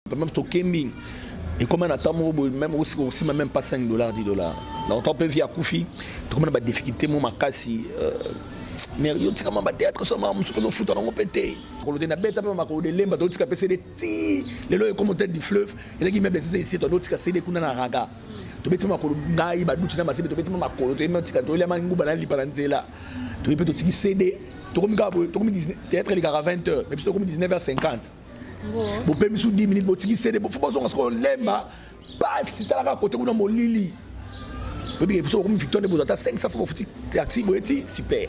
Même tokembi ekoma na ntango moko boye meme osika okosima meme pas 5 dollars 10 dollars na otan mpe vie akufi tokoma na badifficulté mo makasi euh, mais yo tika mama théâtre so mama mosuku ozofuta nango mpe te makolo te nabeta mpe makolo de lemba totika mpe sede ti lelo ekoma tete du fleuve ezalaki meuble sese esi totika sede kuna na raga tobeti mpe makolo ngai baduti na masebe tobeti mpe makolo toyebi otika toyelama nguba na lipa na nzela toyebi mpe totiki sede tokomi kaka boye tokomi théâtre elekaka 20 heures mais biso tokomi 19 heures 50 bopemi su 10 minutes botiki sede fo bozonga sikoyo lemba pasi talaka kote kuna molili oyebi episode okomi victoire nde bozwa ata 500 fo bofuti taxi boye ti super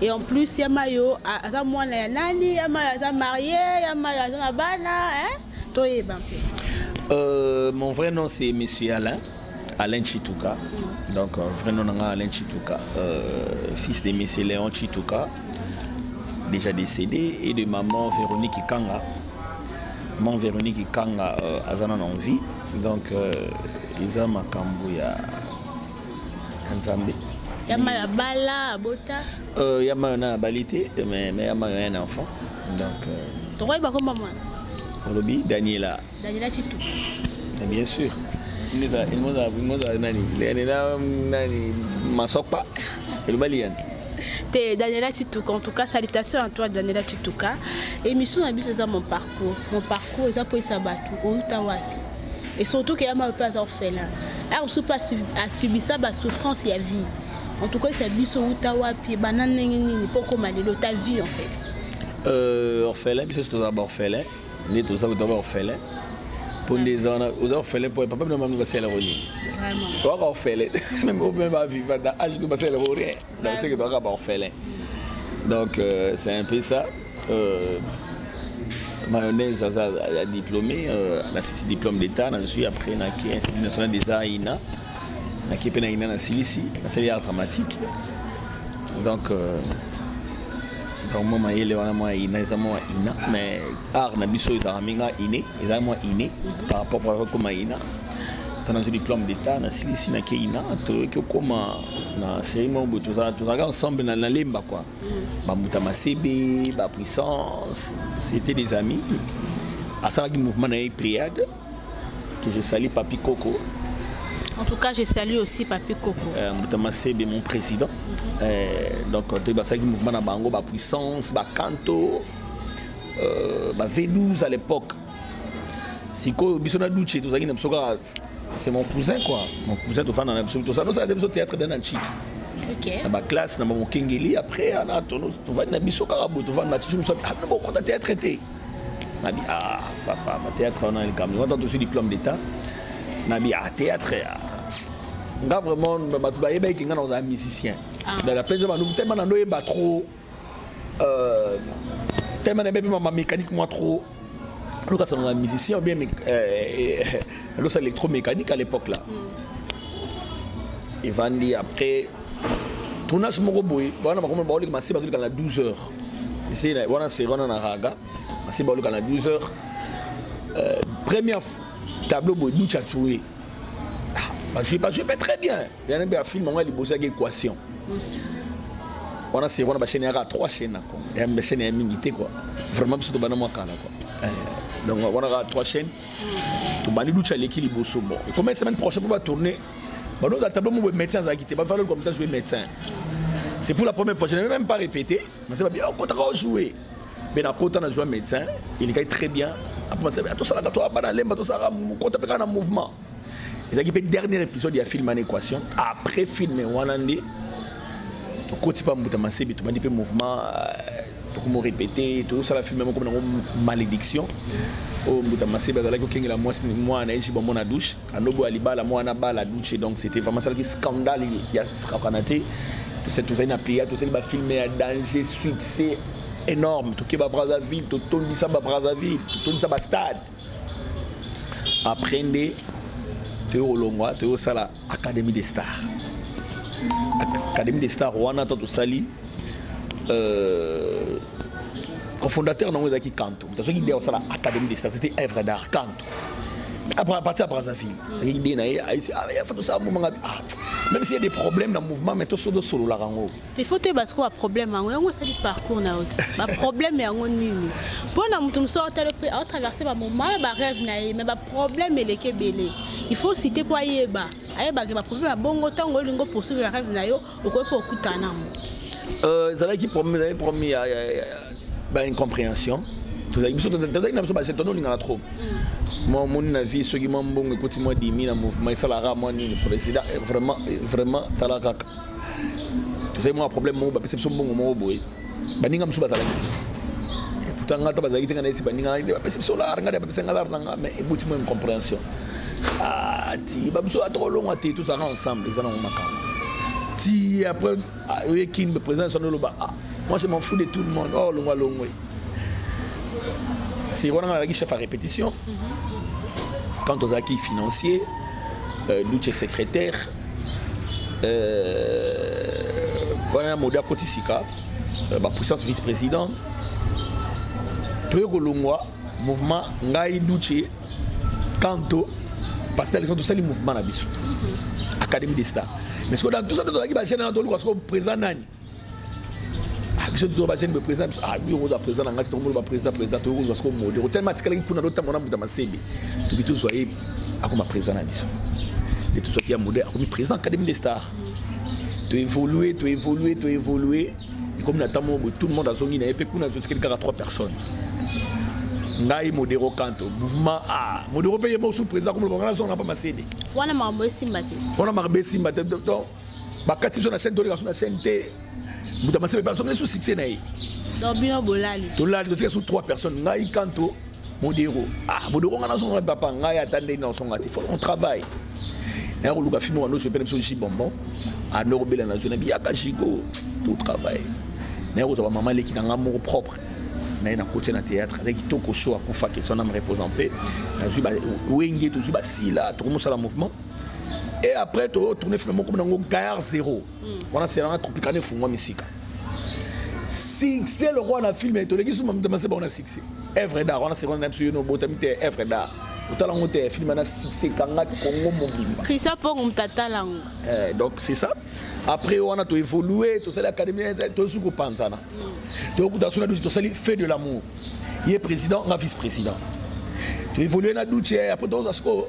et en plus ya mayo aza mwana ya nani ya mayo aza marie ya mayo aza na bana hein toyeba mpe euh, mon vrai nom c'est monsieur alain alain chituka mm. donc euh, vrai nom nanga alain chituka euh, fils de monsieur léon chituka déjà décédé et de maman véronique ikanga maman véronique ikanga euh, aza nana en vie donc euh, eza makambo ya ya nzambe ya mayo abala abota euh, ya mayo na abali te mais ya mayo ya un enfant donc euh, tokoyeba komba mwana olobi daniela daniela chitu eh, bien sûr ngozala nani daniela nani masokpa eloba liyanzi te daniela chituka en tout cas salutation à toi daniela chituka émission na biso eza mon parcours mon parcours eza mpo esa bato outa wapi et surtout que yama pe aza orphelin aya mosusu pe asubisa basouffrance ya vie en tout cas esa biso uta wapi ebanda ndenge nini mpo okoma lelo ta vie en fait euh, orphelin biso si tozala baorphelin nde toza kuta baorphelin mpo nde eza wana oza orphelin mpo papa bino mami basalelako nini oaka orphelin meme ope bavivanda age to basalelako rien Donc c'est que toi kaka orphelin. Donc euh, c'est un peu ça. Euh, mayonnaise aza ya diplômé euh, nasisi diplôme d'état nazwi après naki institut national des arts ina naki mpe na ina nasilisi nasali art dramatique donc euh, donc mwa mayele wana mwa ina eza mwa ina mais art na biso ezalaka mingi ine ezalaki mwa ine par rapport par rapport koma ina ntango nazwi diplome d'état nasilisi na keina toyoki okoma na série moko boye tozalaka ensemble na nalemba kua mm. bambuta masebe bapuissance c'était des amis asalaki mouvement na ye priade que je sali papi koko En tout cas, je salue aussi Papi Koko. Euh, Moutama Sebe, mon président. Mm -hmm. euh, donc, tu as un mouvement à Bango, la puissance, la canto, euh, la V12 à l'époque. sikoyo biso na duce tozalaki na biso kaka c'est mon cousin quoi mon cousin tofanda na biso tosanosaka te biso théâtre bia na ntshiki na baklasse na bamokengeli après ana tovandi na biso kaka boye tovandi na tisu mosu abino bokota théâtre te nabi ah papa bathéâtre wana likambo wata tosi diplôme d'état nabi ah théâtre ah. nga vraiment bato bayebaki nga na kozala musicien ah. dala mpenza banduku te mana ndoyeba trop Euh, tellement nayebi mpe ma mécanique moi trop loka sango na musicien ou bien euh, losa électromécanique à l'époque là mm. evandi après tournage moko boye wana bakomi baoleka masi bazoleka na 12 heures esi wana se wana na raga masi baoleka na 12 heures euh, première tableau boye ducha touré ah, bajue bajue mpe très bien yana mpe afilme yango ya liboso yaka équation wana seko wana bachaine yaka trois chaine na congo ya bachaine ya mingi te kua vraiment biso tobanda mwa kala kua eh, donc wana kaka trois chaine tobandi lucha aleki liboso bon ekoma semaine prochaine mpo batourne banoza tableau moko médecin azalaki te bafaloli komita joue médecin c'est pour la première fois je n'ai même pas répété mais c'est bien okotaka oh, ojouer mais nakota na joue médecin elekaki très bien après tosalaka to abana lemba tosalaka mokota mpe kaka na mouvement ezalaki mpe dernier épisode ya film en équation après film wana nde tokoti mpa mbuta masebi tobandi mpe mouvement euh, tokomorepete tozosala filme moko nango malédiction oyo oh, mbuta masebe azalaki kokengela mwasi mwana na ye jiba mwana douche anoboya libala mwana bala douche donc c'était vraiment asalaki scandale ya sakana te tozali na pléa tozali bafilme ya danger succès énorme tokeba brazzaville totondisa ba brazzaville totondisa ba stade après nde toyo kolongwa toyo kosala académie des stars académie des stars wana to tosali euh, cofondateur nango ezalaki kanto moto azoki idée ya kosala académie des stars c'était œuvre d'art kanto après parti ya brazzaville ezalaki idée na ye aisi ah, fo tosala mouvement ah, même s'il y a des problèmes na mouvement mais toso tosololaka yango il faut toyeba sikoyo baproblème yango yango esali parcours na yo te baproblème yango nini mpo na moto mosusu aotala mpe aotraverse bamomala barêve na ye mais baproblème eleki ebele il faut cite mpo ayeba ayebaka baproblème ya bongo ntango olingi oposuive barêve na yo okoki mpe okutana nango euh, ezalaki problème ezalaki problème ya baincompréhension tozalaki biso tozalaki na biso base tono olingaka trop mm. mwa omoni na vie soki mwa mbongo ekoti mwa dimi na mouvement esalaka mwa nini président eh, vraiment eh, vraiment tala kaka tozali mwa problème moko bapesa biso mbongo moko boye baninga mosusu bazalaki te pourtant ngai ata bazalaki te ngai nayesi baninga ngai te bapesa biso lar ngai te bapesa ngai lar na ngai mais eboti mwa incompréhension ah, ti babiso ata olongwa te tozalaka ensemble eza nango makambo ti après ah, oye kin président soni oloba ah, moi je m'en fous de tout le monde oh longwa longwe c'est wana ngai nazalaki chef à répétition mhm. quand ozalaki financier euh, luce secrétaire wana euh, modi akoti sika euh, bapuissance vice président toye kolongwa mouvement ngai duce kanto parce que na leson tosali mouvement na biso académie de star mais soki na tout ça tozalaki bagene na toluka soko président nani ah, biso tozo ba jeune président biso ah biyo koza président na ngati to molo ba président président to koza ko mode ko tellement tikala kuna do tamona mbuta masebe to bitu zo ye akoma président na biso et tout ça qui a mode akomi président académie des stars to évoluer to évoluer to évoluer et comme na tamo tout le monde a zongi na epe kuna to tikala kaka trois personnes ngai modero kanto mouvement a modero mpe ye mosu président komoloba ngai nazonga na mpa masede wana makambo esimba te wana makambo esimba te bakati biso na chaîne toleka so na chaîne te mbuta masebe mpe azongeli so succès na ye donc bino bolali tolali tozika so trois personnes ngai kanto modero ah modero ngai nazonga papa ngai ata ndenge naosonga te on travaille naya koluka fimo wando soepena biso ji bonbon ando kobela na zona biyaka jigo to travaille naya kozwa bamama eleki na ngai moko propre naye nakotia na théâtre azali kitoko so akufaki so na me repose en paix nazwi wenge tozwi basila tokomosala mouvement et après to tourner finalement comme nango gaillard zéro hmm. wana c'est la tropicana efungwa misika succès lokola na film toleki suma mitema se bango na succès evre dar wana sekonde na biso yo nobotami te evre dar otala yango te film na succès ekangaki kongo mobimba christian pongo moto atala yango eh, donc c'est ça après wana toévolue tosali académie tosuki kopanzana hmm. toyokuta so na dusi tosali fait de l'amour ye président nga vice président toévolue na duce après tozwa sikoyo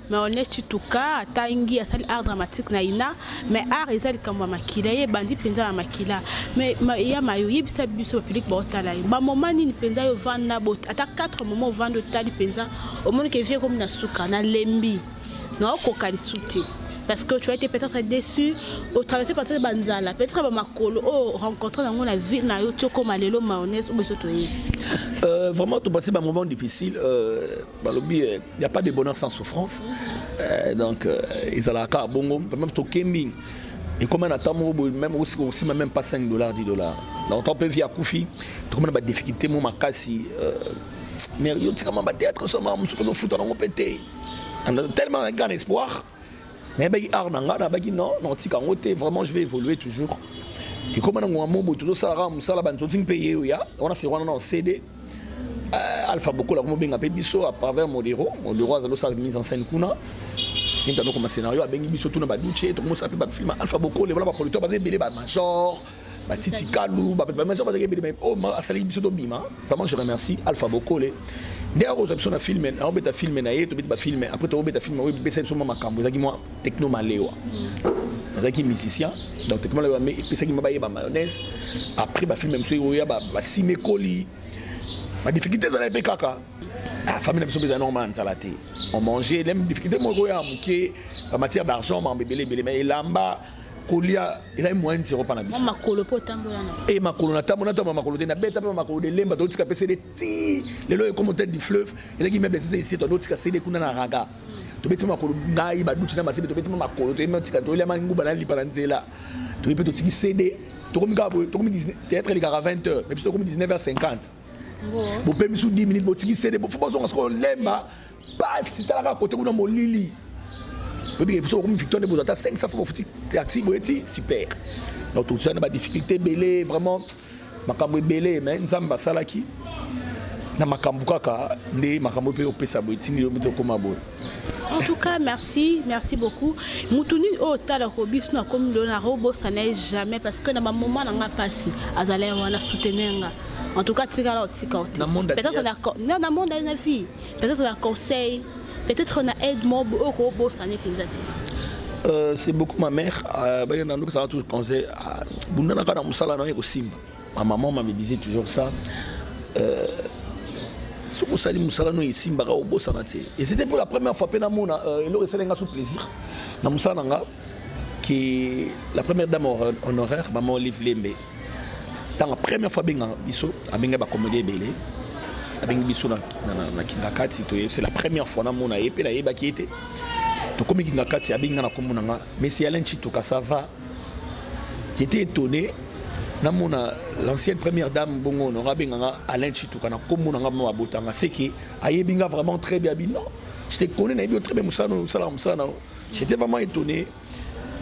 mais on est chituka atangi asali art dramatique na ina mais art eza likambo ya makila ye ebandi mpenza na makila mais ya mayo yebisa biso bapublike baotala ye bamoma nini mpenza yo vanda bot ata 4 moma ovanda otali mpenza omoni ke vie ekomi na suka nalembi naokoka lisu te parce que tu as été peut-être déçu au traversé par cette banzala peut-être ba makolo oh rencontré dans la ville na yo toko malelo mayonnaise ou besoto euh vraiment tout passer ba moment difficile euh balobi il euh, n'y a pas de bonheur sans souffrance euh, donc euh, ezalaka kaka bongo vraiment tokembi ekoma na ntango moko boye meme osika osima même pas 5 dollars 10 dollars na otan mpe vie akufi tokoma na badifficulté mo makasi euh, mais yo tikama batéâtre soma mosuku ozofuta nango mpe te tellement un grand espoir nayebaki art na ngai nabaki non nakotika yango te vraiment je vais évoluer toujours ekoma na ngonga mobo tozosala kaka mosala banzoti mpe ye oya wana se wana na cd euh, alpha bokola komobenga mpe biso à travers modero modero azali osala mise en scène kuna ntanokoma scénario abengi biso tuna baduce tokomosala mpe bafilme alpha bokole wana baproducteur baza ebele bamajor batiti kalu bamasa bazalaki ebele mai oyo oh, asalaki biso tobima vraiment je remercie alpha bokole nde akozwa biso na filme aobeta filme na ye tobeti bafilme après tokobeta filme oyo epesa biso mwa makambo ezalaki mwa techno malewa nazalaki musicien donc techno malewa epesaki mwa bayeba mayonnaise après bafilme mosusu oyo ya basimekoli badifficulté ezalaki mpe kaka ah, famille na biso mpe ezali normal nzala te on mange lem difficulté moko ya moke bamatière d'argent mambo ebele ebele mais elamba kolia ezali moyen zero mpa na biso makolo mpo otambola na e makolo natambola natambola makolo te nabeta mpe makolo delemba totika mpe sede ti lelo ekomo tete du fleuve ezalaki meuble sese iseto totika sede kuna na raga tobeti makolo ngai baduti na masebe tobeti makolo toyetika toyelama nguba na lipa na nzela toye mpe totiki sede tokomi kaka boye tokomi théâtre elikaka 20 heures mais biso tokomi 19 heures 50 bopemi su 10 minutes botiki sede fo bozonga sikoyo lemba pasi tala kaka kote kuna molili oyebi biso bakomi victoire nde bozwa ata 500 fois bafuti taxi boye ti super donc tozwa na badifficulté ebele vraiment makambo ebele mais nzambe asalaki na makambo kaka nde makambo mpe opesa boye tindi yo mpe okoma boye en tout cas merci merci beaucoup motu nini oyo otalaka obiso nakomi lelo nakobosana ye jamais parce que na bamoma na nga mpasi azalaki wana soutenir nga en tout cas tikala otika ote peut-être na monde na vie peut-être na conseil peut-être na aide mo oyo kobosani mpenza te Euh, c'est beaucoup ma mère euh, baye na ndokisaka toujours conseil euh, bundanaka na mosala na yo ekosimba ma maman ma me disait toujours ça euh, soki osali mosala no esimbaka obosana te et c'était pour la première fois mpe namona euh, eloko esali nga so plaisir na mosala na nga que la première dame honoraire maman olive lembe ntango première fois abengaka biso abengaki bakomedi ebele abengi biso na kingakati toye c'est la première fois namona ye mpe nayebaki ye te tokomi kingakati abengi nga na nkombo na nga messi alain chitoka ça va j'étais étonné namona l'ancienne première dame bongo honora abenga nga alain chituka na nkombo na nga mama abotanga seke ayebi nga vraiment très bien abi non je te connais nayebi yo très bien mosala osalaka mosala na yo j'étais vraiment étonné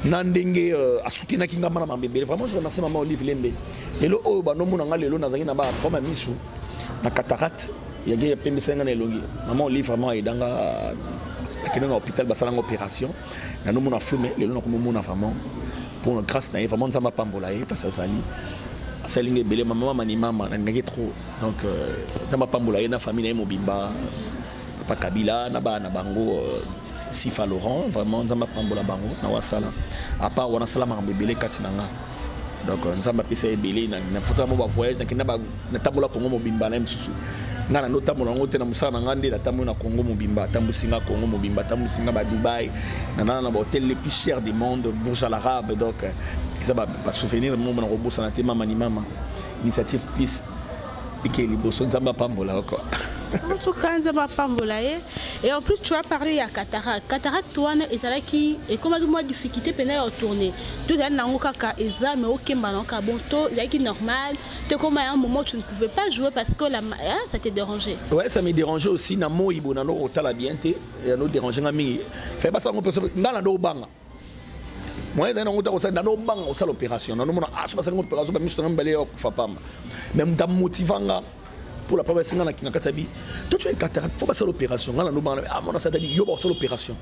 na ndenge euh, asutenaki ngai mana mambe ebele vraiment je remercie mama olive lembe lelo oyo bandomona ngai lelo nazalaki na baproblème ya misu na cataracte yage yapembisaki ngai na elongi mama olive vraiment ayeda nga nakende na hôpital basala nga opération na nomona flou mais lelo nakomomona vraiment pour grâce na ye vraiment nzambe apambola ye place azali asali nga ebele mamama manimama nalingaki trop donc euh, nzambe apambola ye na famille na ye mobimba papa kabila na bana na bango euh, sifa laurent vraiment nzambe apambola bango na wasala apart wana asala makambo ebele kati na nga donc euh, nzambe apesa ebele nafutaka mo bavoyage nakenda natambola kongo mobimba na ye mosusu ngai nando otambola yango te na mosala na ngai nde natamboli na congo mobimba atambusi ngai congo mobimba atambusi ngai badubai nanana na bahotel le plus cher du monde bourge à l'arabe donc euh, eza basouvenir moko na kobosana te mama ni mama initiative plus ike liboso nzambe apambola yo kua en tout cas nzambe apambola ye et en plus tu as parlé ya cataracte cataracte wana ezalaki ekomaki mwa difficulté mpenza ya tourne to ezali nango kaka eza mais okemba nango kaka bon to ezalaki normal te koma ya un moment tu ne pouvais pas jouer parce que la, hein, ça te dérangeait ouais ça me dérangeait aussi na moi bona noko otala bien te ya no déranger nga mingi fai basango mpe ngai na ndo obanga moyen ezali nango te akosala nano obanga kosala opération nanomona ah, soki asali ngo opération bamiso na mibale ya kufa pamba mais moto amotiva nga mpo la papa esinga na kinga kati ya bi to tu ekataka fo basala opération nga nanobanga amona ah, satadi yo bakosala opération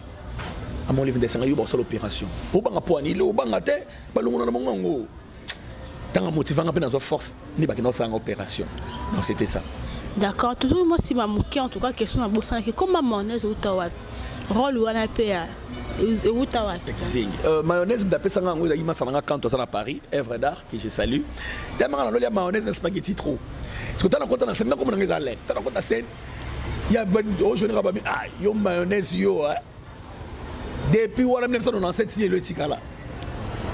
amona ah, livre ndesanga yo bakosala opération obanga mpo ani ile obanga te balongona na bango yango tanga motivanga mpe nazwa force nde bakenda kosala nga opération donc c'était ça d'accord totoki mwa nsima moke en tout cas question nabosanaki koma mayonnaise euta wapi role wana mpe ya euta wapi euh, mayonnaise moto apesa nga yango ezalaki masala nga kanto aza na paris evre d'art que je salue tellement naloli ya mayonnaise na spaghetti trop soki tala kota na sene nakomona nga eza lene tala kota sene ya ojoneka bami ah yo mayonnaise yo eh. depuis wana 1997 ti lelo etikala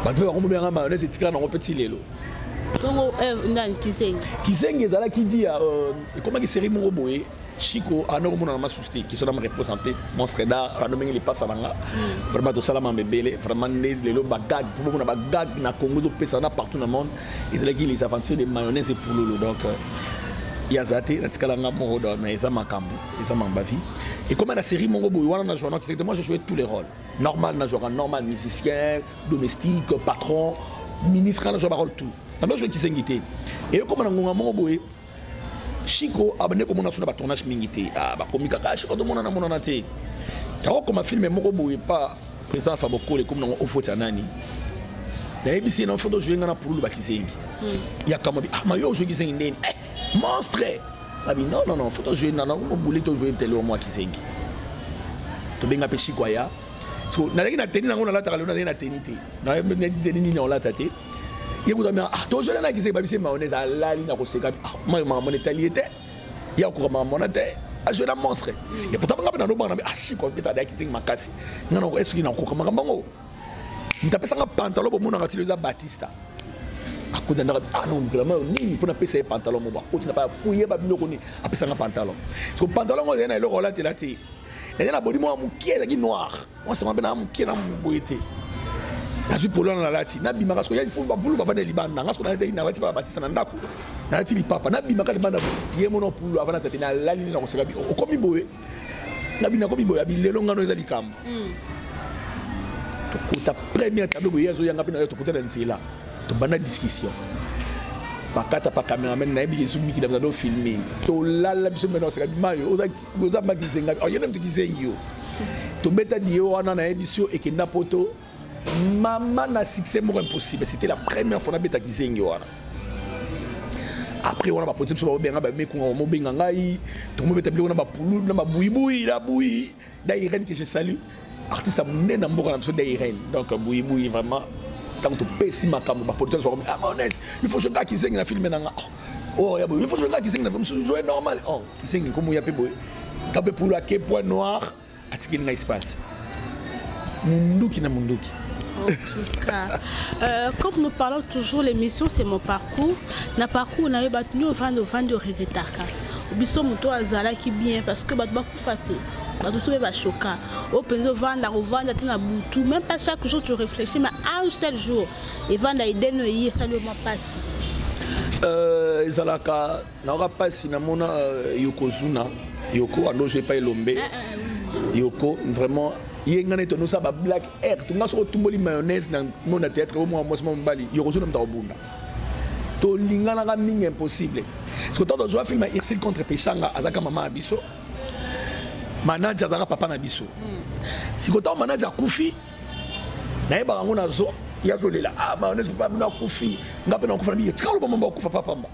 bato mpe bango mobengaka mayonnaise etikala nango mpe ti lelo bongo eh, ndani kizengi kizengi ezalaki dia euh, ekomaki série moko boye chiko ana okomonana masusu te kiso na mareponse mpe monstre da rando ndenge lipasa na nga hmm. vraiment tosalama mebele vraiment nde lelo bagag mpo bomona bagag na congo ezopesa na partout na monde ezalaki les aventures de mayonnaise et pululu donc euh, ya za te natikala nga moko donc mais eza makambo eza mamba vie ekoma na série moko boye wana na joana kisete moi je joué tous les rôles normal na jouaka normal musicien domestique patron ministre na joua barole tout na ndo joué kisengi te ekoma na ngonga moko boye chiko abande komona so na batournage mingi te ah, bakomi kaka chiko tomonana monana te yakokoma filme moko boye pa président fabokole ekomi nango ofoti ya nani nayebisi ye na foto ojoue ngai na pululu bakisengi hmm. yakamwa bi ah mayo ojoue kisengi ndeni eh! monstre abi non non non faut tozwe na nango mobule tozwe tele wa mwa kizengi tobenga mpe shiko aya so nazalaki na teni nango nalataka lelo nazalaki na teni te nayaki teni nini naolata te ye kutu amia ah, tozwela na kizengi babise mayonnaise alali na koseka ah, mayo makambo na etali ye te ye akoka makambo na te azwe na monstre ye pourtant nga mpe nanobanga na mpe ashiko ah, mpe tadaya kizengi makasi nga nako esoki nakoka makambo yango moto apesanga pantalon bomonaka tilo eza batista akotandaka ah non grama yo nini mpo napesa ye pantalon moko akoti na bafuye babiloko nini apesanga pantalon so pantalon yango ezali na eloko olatela te naza na bodi mwa moke ezalaki noir mwasanga mpe na moke na moboye te nazwi polo wana nalati nabimaka soki bapulu bavanda libanda nga soki nalati nalati pa batisa na ndako nalati lipapa nabimaka libanda ye mona pulu avanda tate nalali nde nakoseka bi okomi boye nabina komiboya bilelo ngano eza likambo hmm. tokota première tableau boye azoyanga mpe nayo tokota na nzela tobanda discussion bakata pa cameraman nayebi yesu mikili bazali ofilme tolala biso mena oseka bimayo oza mba kizenga oyena moto kizengi yo tobeta diyo wana nayebi si yo ekenda poto mama na succès moko impossible c'était la première fois nabeta kizengi wana après wana bapolisi biso baobenga bamekunga bamobenga ngai tokomobeta biloko na bapulu na babuibui na bui da irene que je salue artiste ya monene na mboka na biso da irene donc buibui vraiment ntango topesi makambo bapolisi biso bakomi amones ah, il faut jokaka kizengi na filme na nga oh, oyo oh, ya boye il faut jokaka kizengi na filme mosusu joe normal o oh, kizengi nkomo ya mpe boye nka mpe pulu ake point noir atikeli ngai espace munduki na munduki En tout cas, euh, comme nous parlons toujours, l'émission c'est mon parcours. Na parcours, on a eu battu, on vend, on vend, on regrettaka. Biso moto azalaki bien parce que bato bakufa te. bato soki bachoka oyo mpenza ovanda kovanda te na butu même pas chaque jour tu réfléchis mais un seul jour evanda ideno eye esali yo mwa mpasi ezalaka nayoka mpasi namona euh, yokozuna yoko andojo epai elombe eh, eh, yoko vraiment ye ngai neti onosa ba black air to ngai soki otumboli mayonnaise na ngo na théâtre o mwa mwasi mwa mobali yokozuna moto akobunda tolinganaka mingi impossible soki ntango tozwa filme ya irsile contre peshanga azalaka mama ya biso manaje azalaka papa na biso hmm. sikoyo ntango manaje akufi nayebaka yango nazo yazolela ah mayonnaise papa bino akufi ngai mpe nakufa na biye tika loba mama akufa papamba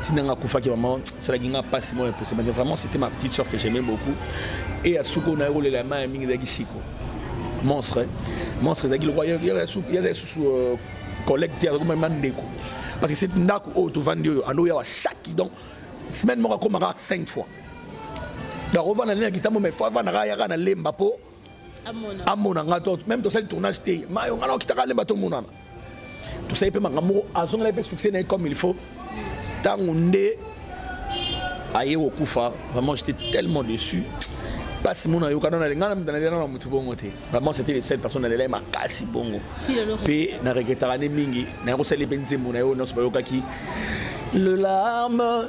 ntina nga akufaki vraiment esalaki nga mpasi moko ya posa mais vraiment c'était ma petite soeur que j'aimais beaucoup et ya suka oyo naye kolela ya maya mingi ezalaki siko monstre eh. monstre ezalaki lokola yazali susu euh, collègue te azalaki mama ndeko parce que cette ndako oyo tovandi oyo ando yawa chaque donc semaine moko akomaka 5 fois donc ovanda nde na kitambo mais fo avandaka yaka na lemba mpo amona nga to meme tosali tournage te mayo nga nakitaka alemba tomonana tosali mpe makambo moko azongela mpe succès na ye comme il faut ntango nde aye kokufa vraiment j'étais tellement déçu mpasi mona yokana na lenga nalela na motu bongo te vraiment c'était le seul personne nalela ye makasi bongo mpe na regretaka nde mingi naye kosali mpe nzembo na yo nyonso bayokaki le larme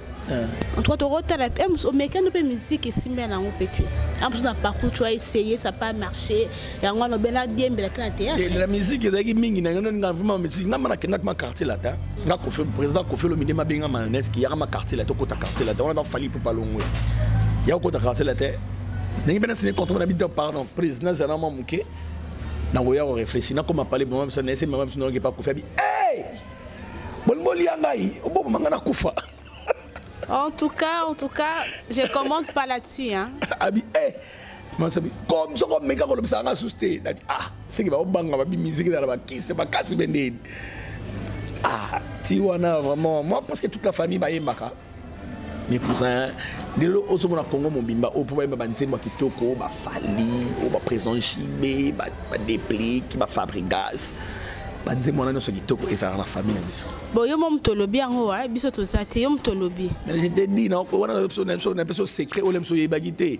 Eh. en tout cas tokotala eh, omekani mpe miziki esimbi yango mpe te amposo na parcours tu aessaye ça pas marché yango wana obela diembela te na théâtrela miziki ezalaki mingi na yango nga vraimen miziki nga mana kendaki ma quartier latin nga kofi président kofi olomide mabenga mananeski yaka ma quartier latin okota quartier latin wana nafali mpo palongwe ya okota quartier latin ndenge mpe nasini contre na bida pardon prise nazala mwa moke nakoya korefléchi nakoma pale boma biso na ese mama biso nayoki pa kofi abi Bon bon lia ngai, bon mangana kufa. En tout cas, en tout cas, je commente pas là-dessus hein. Abi eh masabi comme soko meka ko lobisa nga suste. Dabi ah, c'est que ba banga ba bi musique dans la kisse ba kasi bende. Ah, ti wana vraiment moi parce que toute la famille ba yembaka. mikusa lelo ozomona congo mobimba oyo mpo bayeba banzembo ya kitoko bafali oyo baprésident jibe badeplike bafabrigas banzembo wana nyonso kitoko ezalaka na famille na biso bo yo mo moto olobi yango wa biso toza te yo moto olobi je te dis na wana na biso na biso secret oyo na biso oyebaki te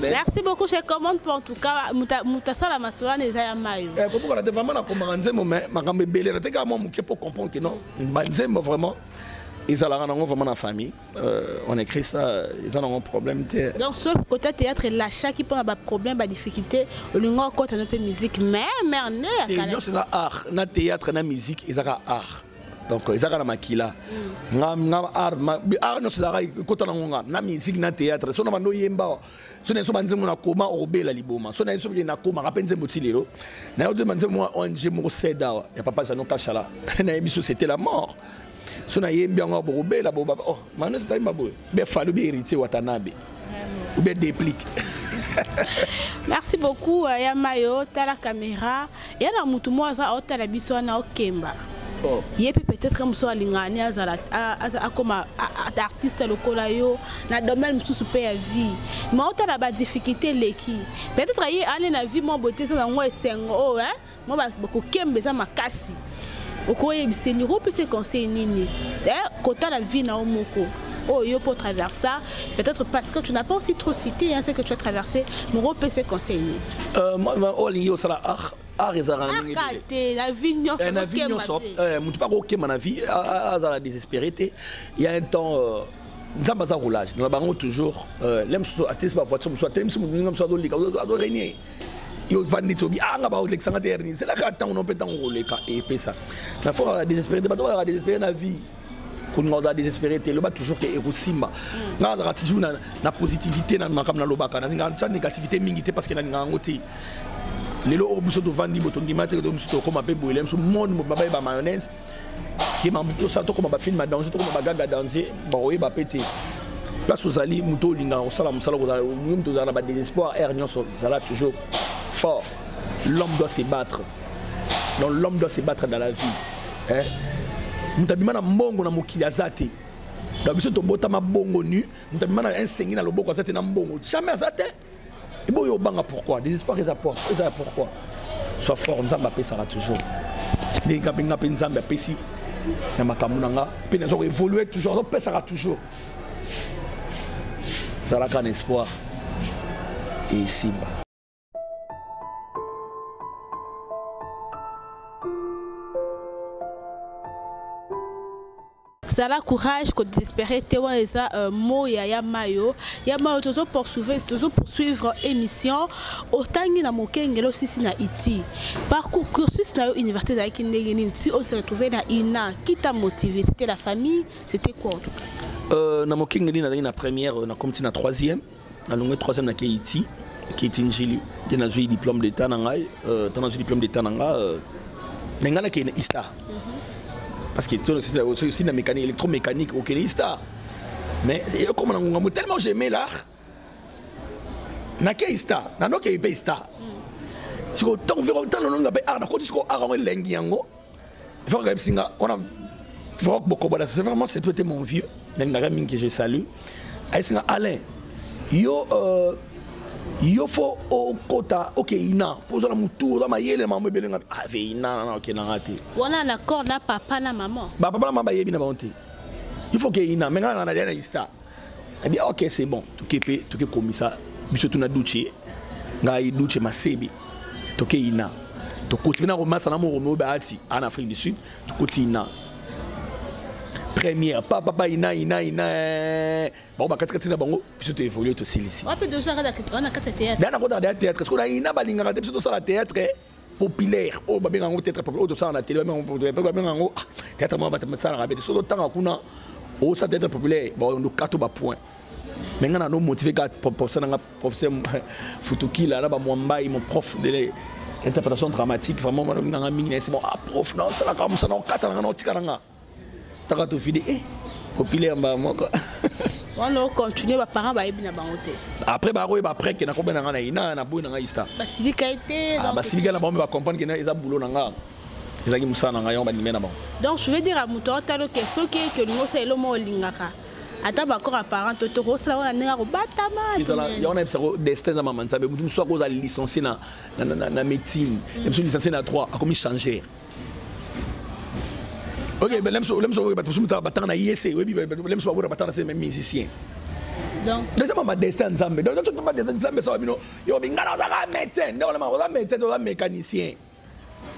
merci beaucoup je commande pour en tout cas moto asala masolo wana eza ya mayo eh, kobukana te vraiment nakomaka nzembo me makambo ebele na te kaka mwa moke mpo comprendre ke non banzembo vraiment ezalaka nango vraiment na famille euh, on écrit ça eza nango problème te donc so côté théâtre elachaki mpo na baproblème badifficulté olingi okota no mpe musique mais merne nyonso eza art na théâtre na musique ezaka art donc ezaka na makila nga nga art art no sala kota na ngonga na musique na théâtre so na bando yemba so na so banze mona koma obela liboma so na so na koma ka penze botilelo na yo de banze moi ONG mo seda ya papa Jeannot Kashala na emission c'était la mort so na yembi yango bokobela boba oh manos taimba boye be falu be héritier watanabe ou be déplique merci beaucoup euh, ya mayo tala caméra ya na mutu mo aza aotala biso wana okemba oh. ye mpe peut-être mosusu alingani azala akoma artiste lokola yo na domaine mosusu mpe ya vie ma otala badifficulté eleki peut-être ye ane na vie mwa bote eza nango esengo oyo oh, Moi ba kokemba eza makasi. Okoyebisa ni opesa conseil nini? Eh kota la vie na omoko. Oh, yo pour traverser, peut-être parce que tu n'as pas aussi trop cité hein, ce que tu as traversé, mon gros PC conseil. Euh, moi, oh, l'ingénieur, ça là, ah, art ezalaka na ndenge ah, te na vie nyonso eh, na vie nyonso eh, moto mpe akokema na vie azala désespéré te ya un temps euh, nzambe aza roulage na bango toujours euh, le mosusu atelisi bavoiture mosusu atelemisi moninga mosusu azolika azoregne yo vandi ti obi anga bakolekisa nga te herni ezelaka ntango no mpe ntango koleka epesa na fo kaka désespéré te bato bakaka désespéré na vie kolinga ozala désespéré te loba toujours ke ekosimba mm. nga azalaka toujours na positivité na makambo nalobaka nalingaka tya négativité mingi te parce que nalingaka yango te lelo oyo biso tovandi bo tondima te ke to mosusu tokoma mpe boyele biso monde mobaba ye ba mayonnaise kema moto osala tokoma bafilme ya danger tokoma bagaga danze bakoyeba mpe te place ozali moto olingaka kosala mosala kozala olingi moto ozala na badésespoir aire nyonso zala toujours fort l'homme doit se battre donc l'homme doit se battre dans la vie eh? moto abima na mbongo na mokili aza te donc biso tobotama bongo nu moto abima na ensengi na loboko aza te na mbongo jamais aza te eboyo obanga pourquoi désespoir eza eza pourquoi soit fort nzambe apesaka toujours ndenge nga mpe nga mpe nzambe apesi na makambo na nga mpe naza koévolue toujours azopesaka toujours zalaka na espoir esimba zala courage ko désespérer te wana eza euh, mot ya ya mayo ya mayo tozo poursuivre tozo poursuivre émission otangi na mokengelo sisi na iti parcours cursus na yo université ezalaki ndenge nini ti ose retrouver na ina qui t'a motivé c'était la famille c'était quoi en tout cas euh, na mokengeli nazalaki na première euh, nakomi ti na troisième nalongwe 3 na keiti keiti njili nde nazwi diplôme d'état na ngai euh, ntango nazwi diplôme d'état na ngai euh, na ngai nakei na istar mhm. parce que osi na mécanique électromécanique okende istar mais ekoma na ngonga mo tellement j'aimais l'art nakei istar nanokei mpe istar sikoyo ntango mpe ntango nanonga mpe art nakoti sikoyo art yango elengi yango Vraiment, Gabsinga, on a vraiment beaucoup de C'est vraiment, c'est toi, mon vieux. Nengaga Ming que je salue. Aïsinga Alain, yo, euh, yo faut au kota ok ina poza na mutu oza mayele mama ebele nga ave ah, ina na ok na ngate wana na accord na papa na maman ba papa na maman bayebi na bango te il faut ke ina mais nga na na ista Eh bien, ok, c'est bon. Toke pe, toke komisa. Biso tuna duche. Ngai duche masebi. Toke ina. Tokoti na romasa na moro mobe ati en Afrique du Sud. Tokoti ina. Première, pa papa ina ina ina. Eh. Ba ba kati kati na bango, biso to évoluer to silisi. Wapi dozo kata kati na kati théâtre. Dana kota théâtre, parce que na ina balingaka te biso to sala théâtre. Eh. populaire oyo oh, babenga yango teatre populaire oyo oh, tosala na tele babenga yango ah, teatre moko basalaka bete soki otanga kuna osala oh, teatre populaire baondokato bapoint me ngai nano motive kaka professeur nanga professeur futukila na bamwambai mon prof de interprétation dramatique vraiment banongi nanga mingi na esi bon ah prof naosalaka mosana okata nanga naotika nanga taka tofide e eh, kopile ya mbala moko wana ocontinue baparent bayebi na bango te après bakoyeba après ke nakobe na ngai na ye na naboyi na ngai ista basilika ye te ah, basilika na bango mpe bacomprendre ke eza bulo na ngai ezalaki mosala na ngai yango bandimai na bango donc je veux dire ya moto aotalo ke soki eke olingi osala elo moko olingaka ata bakor apparent to toko osala wana ndenge akobatama yango nayebisa ko destin eza mama nzambe motu mosusu akoza licencie na médecine mosusu licencie na 3 akomi changer Ok, ben lem so lem so ba tusum ta batana yese, webi ben lem so ba batana se même musicien. Donc les hommes destin Nzambe. Donc tu peux pas destin Nzambe ça bino. Yo bingana za ka médecin, donc la oza médecin, oza mécanicien.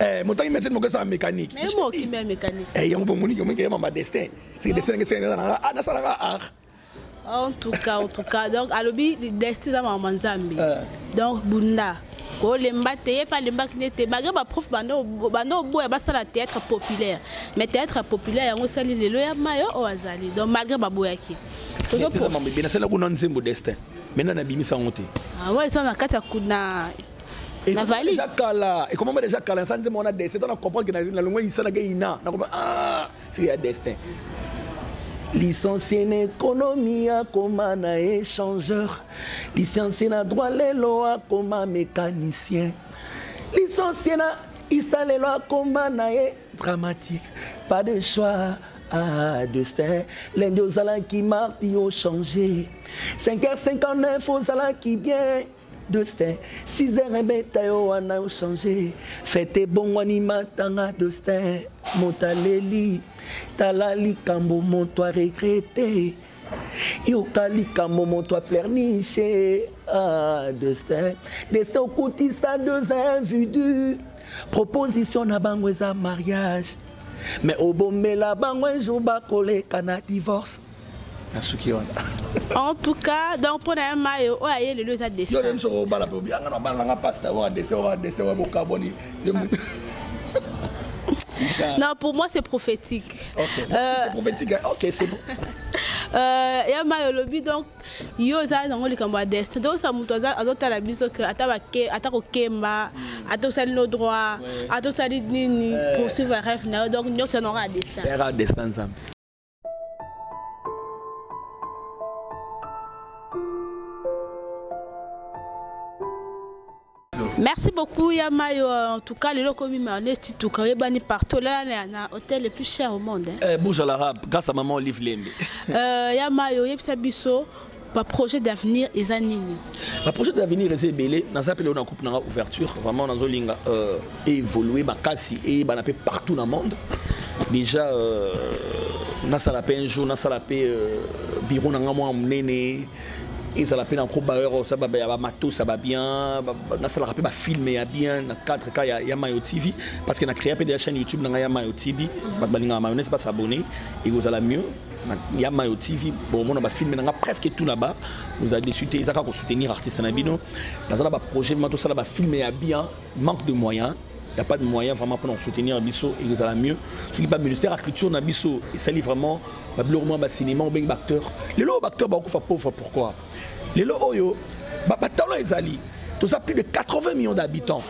Eh, motangi médecin moko sa mécanique. Mais moi qui mets mécanique. Eh, yango bomoni que moi qui m'a destin. C'est destin que c'est na ah na sala ah. en tout cas en tout cas donc alobi desti eza mama nzambe eh. donc bunda kolemba te ye mpe alembaki nde te malgré baprof banda oboya basala théâtre populaire mais théâtre populaire yango esali lelo ya mayo oyo azali donc malgré baboyaki nasala kuna nzembo destin maintenant nabimisa yango te awa ah eza na kati ya kuna na valise kala ekomama deja kala nsa nzembo wana destin to na comprendre ke nalongwa yisa na ge ina nakoma ah c'est ya destin licencie na ekonomi akoma na échangeur licencie na droit lelo akoma mécanicien licencie na ista lelo akoma na ye dramatique pas de choix Ah, destin, lundi ozalaki mardi ochange 5h59 ozalaki bien Dostin, 6 heures ebeta yo wana ochange fete ebongwani matanga Dostin moto aleli tala likambo moto aregrete yoka likambo moto aplerniche ah, Dostin Destin okutisa deux invidu proposition na bango eza mariage mais obomela bango un jour bakoleka na divorce nasuki wana en tout cas donc mpo na ye mayo oyo aye lelo eza destin soki obala mpe obianga na bala nanga pasta oyo adese oyo adese oyo bokaboni non pour moi c'est prophétique okay. euh... c'est prophétique hein? ok c'est bon euh, ya mayo olobi donc yo eza nango likambo ya destin donc sa moto azotala biso ke ata kokemba hmm. ata osali no droit ata osali nini poursuivre rêve na yo donc nyonso yango ya destin merci beaucoup ya mayo en tout cas lelo okomi maneti tuka oyebani partout olala na hôtel le plus cher au monde hein. eh, bouge à l'arabe grâce à maman olive lembe euh, ya mayo oyebisa biso ba projet d'avenir eza nini ba projet d'avenir eza ebele naza mpe leo na coupe nanga ouverture vraiment nazolinga euh, évoluer makasi eyebana mpe partout na monde déjà euh, nasala mpe un jour nasala mpe euh, bureau na ngai mwa monene ezala mpe na kobayeur osaba ya bamatos ya babien nasalaka mpe bafilme ya bien na cadre ka ya, ya mayo tv parce que na créa mpe de ya chaîne youtube na ngai ya mayo tv bato balingaka mayonnaise basabonne ekozala mieux ya mayo tv bomona bafilme na nga presque tout là-bas oza déçu te ezaka kosoutenir artiste na bino naza na baprojet ma tosala bafilme ya bien manque de moyen il n'y a pas de moyen vraiment pour nous soutenir biso et nous allons mieux. Ce qui pas ministère de la culture n'a biso et ça vraiment ba blurement ba cinéma ou bien acteur. Les lots acteurs ba kufa pauvre pourquoi Les lots oyo ba ba talent ezali. Tout ça plus de 80 millions d'habitants.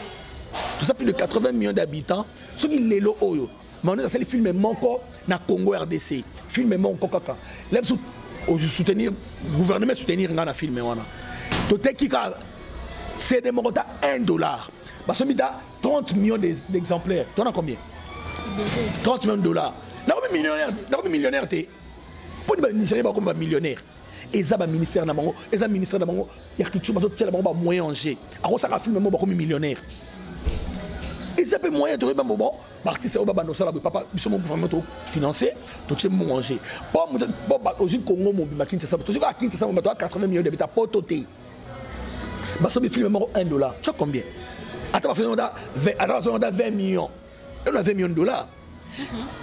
Tout ça plus de 80 millions d'habitants. Ce qui les lots oyo Manus asali film moko na Congo RDC. Film moko kaka. Là biso soutenir gouvernement soutenir nga na film wana. Toteki ka CD moko ta 1 dollar. Basomi ta 30 millions d'exemplaires. Toi na combien 30 millions de dollars. Nakomi millionnaire, nakomi millionnaire te. Mpo ni ba Nigeria bakoma ba millionnaire. eza ba ministère na bango eza ministère na bango ya culture bazo tiela bango ba moyen en jeu akosaka film mo bakomi millionnaire eza pe moyen tokoyeba mbo bon baartiste oyo babanda osala boye papa biso mo gouvernement to financé totie mbongo en jeu po moto po ozwi congo mobimba kinshasa tozwi kaka kinshasa bato ya 80 millions d'habitants poto te basobi film moko 1 dollar tu as combien ata bafilm ata 20 millions elo na 20 millions de dollars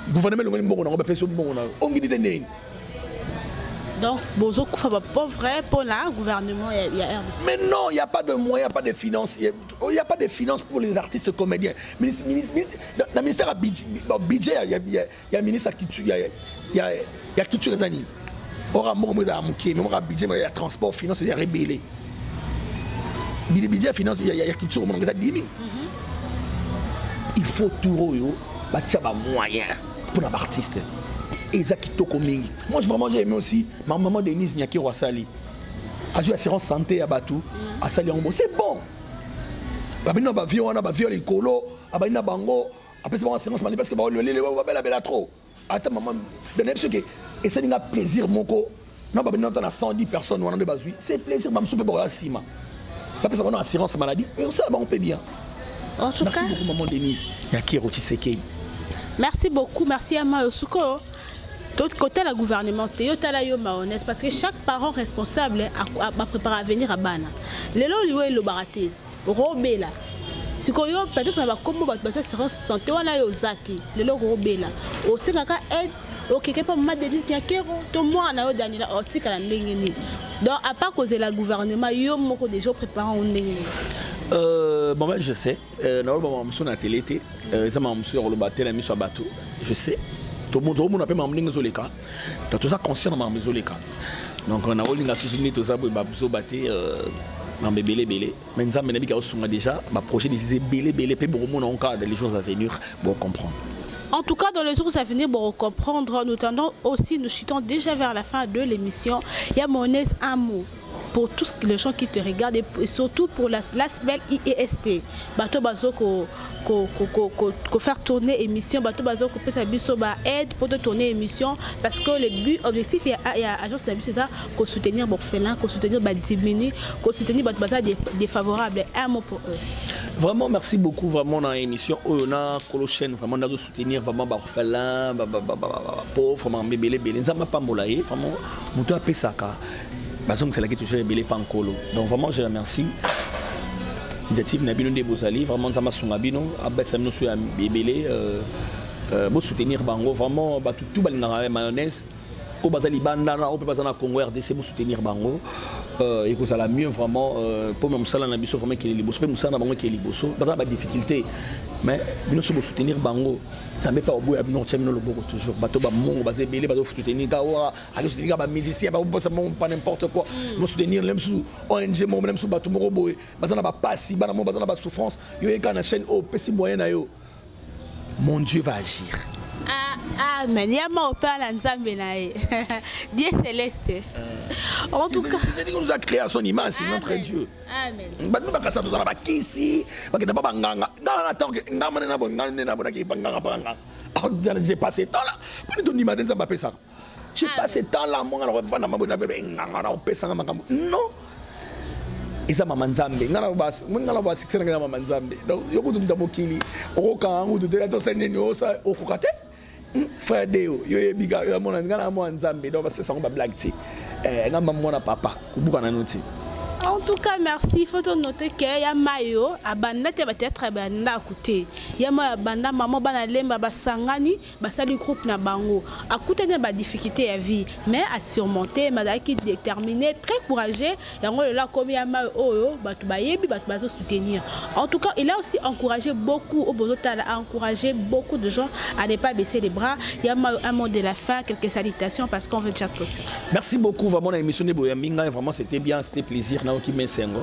gouvernement elongoli mbongo nango bapesi yo mbongo na yo ongini te ndeni donc bozo kufa ba pauvre pour la gouvernement ya, ya RDC. Mais non, il y a pas de moyens, pas de finances, il y, a pas de finances pour les artistes comédiens. Ministre, ministre, ministre, dans le ministère budget, budget il y a, il y a, il y a ministre qui tue, il y a, il y a, il y a culture et années. oka moko moko ezala moke me moka budget ya transport finance ezalaka ebele budget ya finance ya culture omonaka eza dimi mhm. il faut tour oyo batia bamoyen mpo na baartiste eza kitoko mingi moi vraiment j'ai aimé aussi ma maman denise nyakero asali azwi assurance santé ya bato mhm. asali yango bo c'est bon babini na bavio wana bavio likolo abandi na bango apesi bango assurance mani parce que baololele babelabela trop ata mama nayebi soki esali nga plaisir moko na babandi nata na 110 personnes wana nde bazwi c'est plaisir bamosusu mpe bakoya nsima bapesa bango na assurance maladie osala bango mpe bien en tout cas merci beaucoup maman denise ya kiro tshisekedi merci beaucoup merci ya mayo sikoyo kotala gouvernement te yo tala yo maonese parce que chaque parent responsable baprépare avenir ya bana lelo liwa elobaka te okobela sikoyo peut-être na bakombo bato batia serence sante wana yo oza te lelo okobela osengaka aide okeke mpa mama denis nyakero to mwana na yo daniela otikala ndenge nini donc apa kozela gouvernement yo moko déjà oprépare yango ndenge nini Euh, bon ben je sais euh, naoloba makambo mosusu na tele te euh, eza makambo mosusu ya koloba te na miso ya bato je sais tomonaka mpe makambo ndenge ezoleka toza conscient na makambo ezoleka donc na olinga susu nde toza boye bazoba te euh, makambo ebele ebele mais nzambe nayebi kaosunga déjà baprojet déjà ebele ebele mpe bokomona onkala dans les jours à venir bocomprendre En tout cas, dans les jours à venir, pour comprendre, nous tendons aussi, nous chutons déjà vers la fin de l'émission. Il y a mon amour. pour tous les gens qui te regardent et surtout pour la, la belle IEST. Bato bazo ko, ko, ko, ko, ko, ko faire tourner émission, bato bazo ko pesa biso ba aide pour tourner émission parce que le but objectif il y a, il y a agence de c'est ça ko soutenir Borfelin, ko soutenir ba diminuer, ko soutenir bato baza défavorable. Un mot pour eux. Vraiment merci beaucoup vraiment dans l'émission oyo na kolo chaîne vraiment nazo soutenir vraiment ba orphelin, ba ba ba ba pauvre, vraiment bébé bébé. Nzamba pambola ye vraiment muto apesaka bazongiselaki toujours ebele pa nkolo donc vraiment je remercie initiative na bino nde bozali vraiment nzambe asunga bino abesa bino so ya ebele euh, euh, bosoutenir bango vraiment bato tu balingaka ya mayonnaise oyo baza libanda na oyo mpe baza na congo rdc bosoutenir bango euh, ekozala mieux vraiment mpo na mosala na biso vraiment ekele liboso mpe mosala na bango ekele liboso baza na badifficulté mais bino so bosoutenir bango nzambe mpe aoboya bino kotya bino loboko toujours bato bamongo baza ebele bazosoutenir gawa azo soutenir ba musiciens ba bosa mon pas n'importe quoi mm. mo soutenir même sous ONG mo même sous bato moko boye baza na ba pasi bana mo baza na ba souffrance yo yeka na chaîne o pesi moyen na yo mon Dieu va agir ah, amen ya ma opère na nzambe na ye dieu céleste euh. en tout cas il nous a créé à son image c'est notre dieu amen bato bakasa tozala bakisi bakenda ba banganga ngana na tanke ngamane na bo ngane na bo na ke banganga banganga oh, j'ai passé temps là poni tondima te nzambe apesaka tu ah, passe temps là monga na vanda mabo na vebe nganga na opesa nga makambo non eza mama nzambe nga na bas moni nga na bas succès nga mama nzambe donc yo kutu muta mokili okoka ngu tutu to sende ni osa okoka te hmm, frère deo yo yebi ga yo mona nga na mwana nzambe donc basesa ngo ba blague ti eh nga mama mwana papa kubuka na noti en tout cas merci faut to noter que ya mayo abanda te ba théâtre abanda kote ya mayo abanda maman bana lemba basangani basali groupe na bango akutani na badifficulté ya vie mais asurmonte mazalaki déterminé très courageux yango lelo akomi ya mai oyo bato bayebi bato bazosoutenir en tout cas il a aussi encouragé beaucoup oyo bozotala a encouragé beaucoup de gens à ne pas baisser les bras ya mai un mot de la fin quelques salutations parce qu'on veut déjà clôture merci beaucoup vraiment na émission nde boyambi ngai vraiment c'était bien c'était plaisir naoki mesengo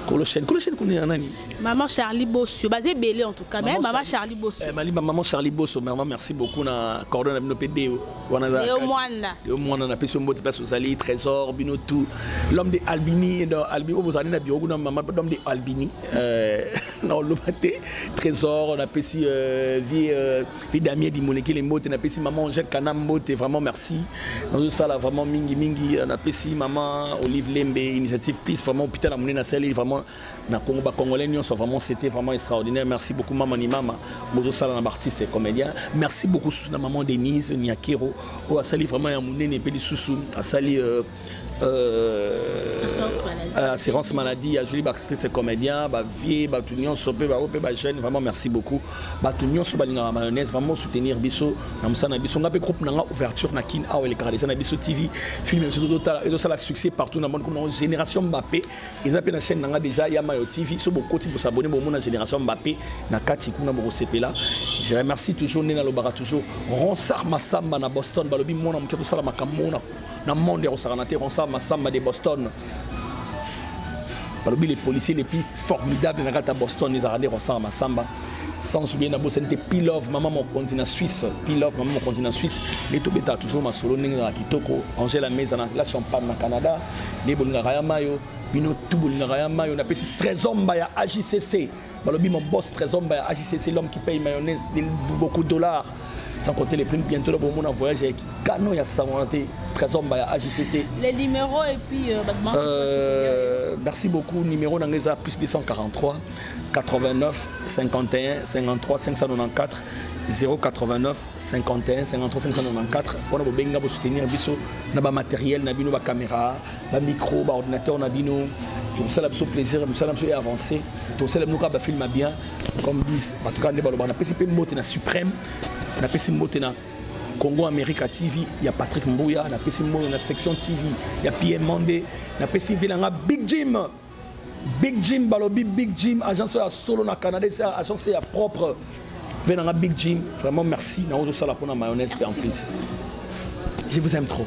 kolochene kolochene kuna ya nani Maman Charlie Bosso, basé ebele en tout cas, mais maman Charlie Bosso. Eh, Malimba maman Charlie Bosso, maman merci beaucoup na coordonne bino pe deo. Wana za. Deo mwana. Deo mwana na peso mbote place ozali trésor bino tout. L'homme de Albini dans Albini obo zali na bio kuna maman l'homme de Albini. Euh na olobate trésor na pesi euh, vie euh, vie Damien di Moneke les mbote na pesi maman Angèle Kana mbote vraiment merci. Nous ça là vraiment mingi mingi na pesi maman Olive Lembe initiative please vraiment hôpital à Monena sali vraiment na Congo ba congolais nyonso vraiment c'était vraiment extraordinaire merci beaucoup maman ni mama bozo sala na ba artiste et comédien merci beaucoup sous na maman Denise Niakero oyo asali vraiment ya munene pe lisusu asali euh, euh, euh, assurance maladie azweli baartiste comédien bavie bato nyonso mpe bao mpe bajeune vraiment merci beaucoup bato nyonso balingaka mayonnaise vraiment soutenir biso na mosala na biso ngai mpe groupe na ngai ouverture na kin awa elekaka deja na biso tv film biso ezosala succès partout na monde comme nango génération mbappe eza mpe na chaîne na nga déjà ya mayo tv so bokoti bosabone bomona génération mbappe na kati kuna bokosepela je remercie toujours nde nalobaka toujours ronsar masamba na boston balobi mwana moke tosala makambo mona na monde ya kosakana te ronsar masamba de boston balobi les policiers les plus formidables na kati ya boston ezalaka nde ronsar masamba sans oublier na bosani te pilove mama mokonzi na suisse pilove mama mokonzi na suisse nde tobetaka toujours masolo ndenge ezalaka kitoko angela meza na la champagne na canada nde bolingaka ya mayo bino tu bolingaka ya mayo napesi trésomba ya agcc balobi mon boss trésomba ya agcc l'homme qui paye mayonnaise beaucoup de dollars sans compter les primes bientôt là bomona voyage avec canon ya sangona te trésomba ya agcc les numéros et puis euh, euh, merci beaucoup numéro na ngai eza plus 243 89 51 53 594 089 51 53 594 mpona bobengi nga bosoutenir biso na bamateriel na bino bacaméra bamicro baordinateur na bino tokosala biso plaisir mosala biso e avancé tokosala bino kaka bafilme ya bien comme dis bato kaka nde baloba napesi mpe mbote na suprême napesi mbote na congo america tv ya patrick mbuya napesi mbote na section tv ya pm monde napesi mpe na nga big jim Big Jim balobi Big Jim agence ya solo na Canada c'est agence ya propre venanga Big Jim vraiment merci na ozo sala pona mayonnaise et en plus je vous aime trop